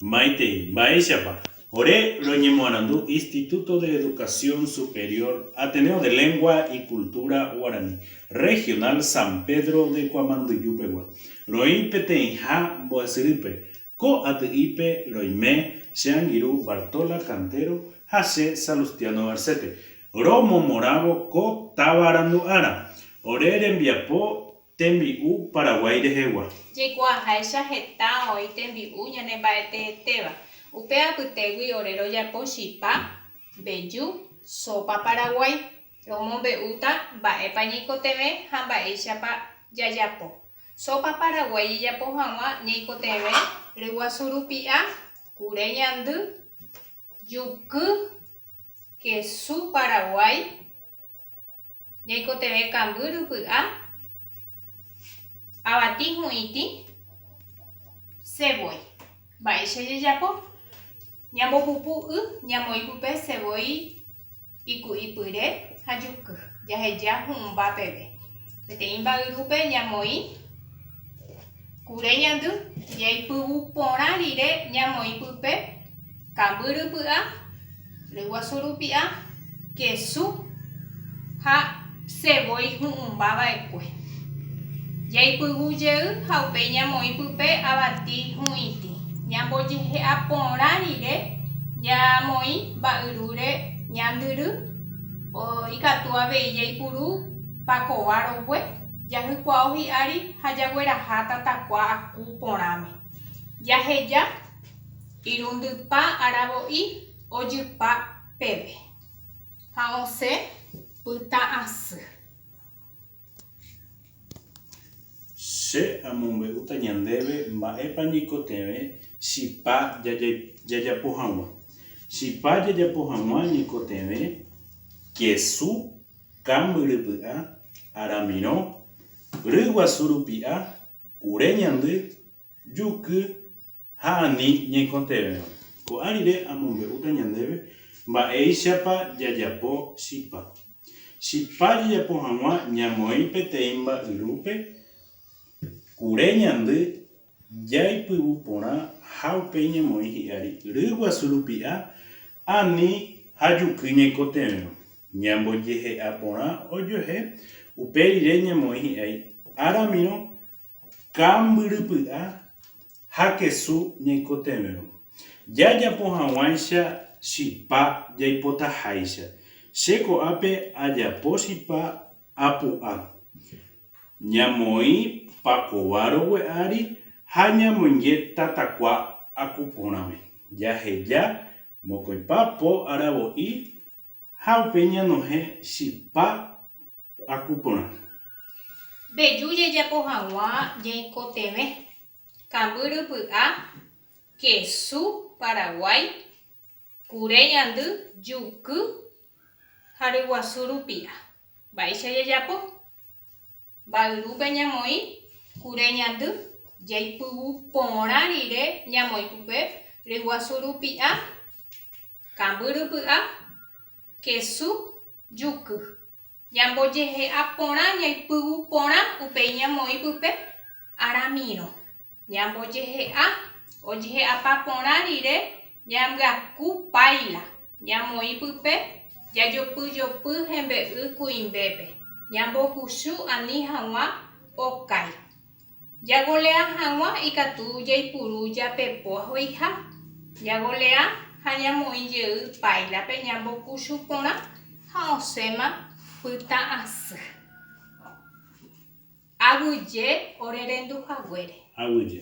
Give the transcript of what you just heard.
Maitei. Mba'éichapa? Ore roñemoarandu Instituto de Educación Superior, Ateneo de Lengua y Cultura Guarani, Regional San Pedro de Kuamanduju pegua, roĩ peteĩha mbo'esyrýpe. Ko aty'ípe roime che angirũ Bartola Cantero ha che Salustiano Garcete, romomorãvo ko táva randu'ára. Ore rembiapo Tembi'u Paraguái rehegua. Jaikuaaháicha heta oĩ tembi'u ñanemba'eteetéva. Upe apytégui ore rojapo chipa, mbeju, sópa paraguái. Romombe'úta mba'épa ñaikotevẽ ha mba'éichapa jajapo. Sópa paraguái jajapo hag̃ua ñaikotevẽ ryguasu rupi'a, kure ñandy, juky, kesu paraguái, Jaikotevẽ kamby rypy'a, avati hu'ĩti, sevói. Mba'éicha jajapo? Ñambopupu y, ñamoĩ pype sevói iku'ipyre ha juky, jaheja hu'ũmba peve. Peteĩ mba'yrúpe ñamoĩ Kure ñandy jaipyvu porã rire ñamoĩ pype, kamby rypy'a, ryguasu rupi'a, kesu ha sevói hu'ũmba va'ekue. Jaipyvu jey ha upéi ñamoĩ pype avati hu'itĩ. Ñambojehe'a porã rire ñamoĩ mba'yrúre ñandyry, ikatu avei jaipuru pakova rogue. Jahykuaó hi'ári ha jagueraha tatakua aku porãme. Jaheja irundypa aravo'i ojypa peve ha osẽ pytã asy. Che amombe'úta ñandéve mba'épa ñaikotevẽ chipa jajapo hag̃ua. Chipa jajapo hag̃ua ñaikotevẽ kesu. kambyrypy'a, aramirõ, ry guasu rupi'a, kure ñandy, juky ha ani ñaikotevẽva. Ko'ã rire amombe'úta ñandéve mba'éichapa jajapo chipa. Chipa jajapo hag̃ua ñamoĩ peteĩ mba'yrúpe, kure ñandy, jaipyvu porã ha upéi ñemoĩ hi'ári ry guasu rupi'a ani ha juky ñaikotevẽrõ, ñambojehe'a porã ojuehe upe rire ñemoĩ hi'ái áramirõ kambyrypy'a ha kesu ñaikotevẽrõ, jajapo haguãicha chipa jaipotaháicha, che ko'ápe ajapo chipa apu'a, Ñamoĩ pakova rogue ári ha ñamoinge tatakua aku porãme. Jaheja mokõipa po aravo'i ha upéi ñanohẽ chipa aku porã. Mbeju jajapo hag̃ua jaikotevẽ, kamby rypy'a, kesu paraguái, Kure ñandy juky ha ryguasu rupia. Mba'éicha jajapo? Mba'yrúpe ñamoĩ kure ñandy, jaipyvu porã rire ñamoĩ pype ryguasu rupi'a, kambyrypy'a, kesu, juky. Ñambojehe'a porã ñaipyvu porã upéi ñamoĩ pype aramírõ. Ñambojehe'a ojehe'apa porã rire ñambyaku páila, ñamoĩ pype jajopyjopy hembe'y kuimbépe, ñambokusu ani haguã okái. Jagoleá hag̃ua ikatu jaipuru japepo ahoiha. Jagoleá ha ñamoĩ jey páilape ñambokuchu porã ha osẽma pytã asy. Aguyje orerendu haguére. Aguyje.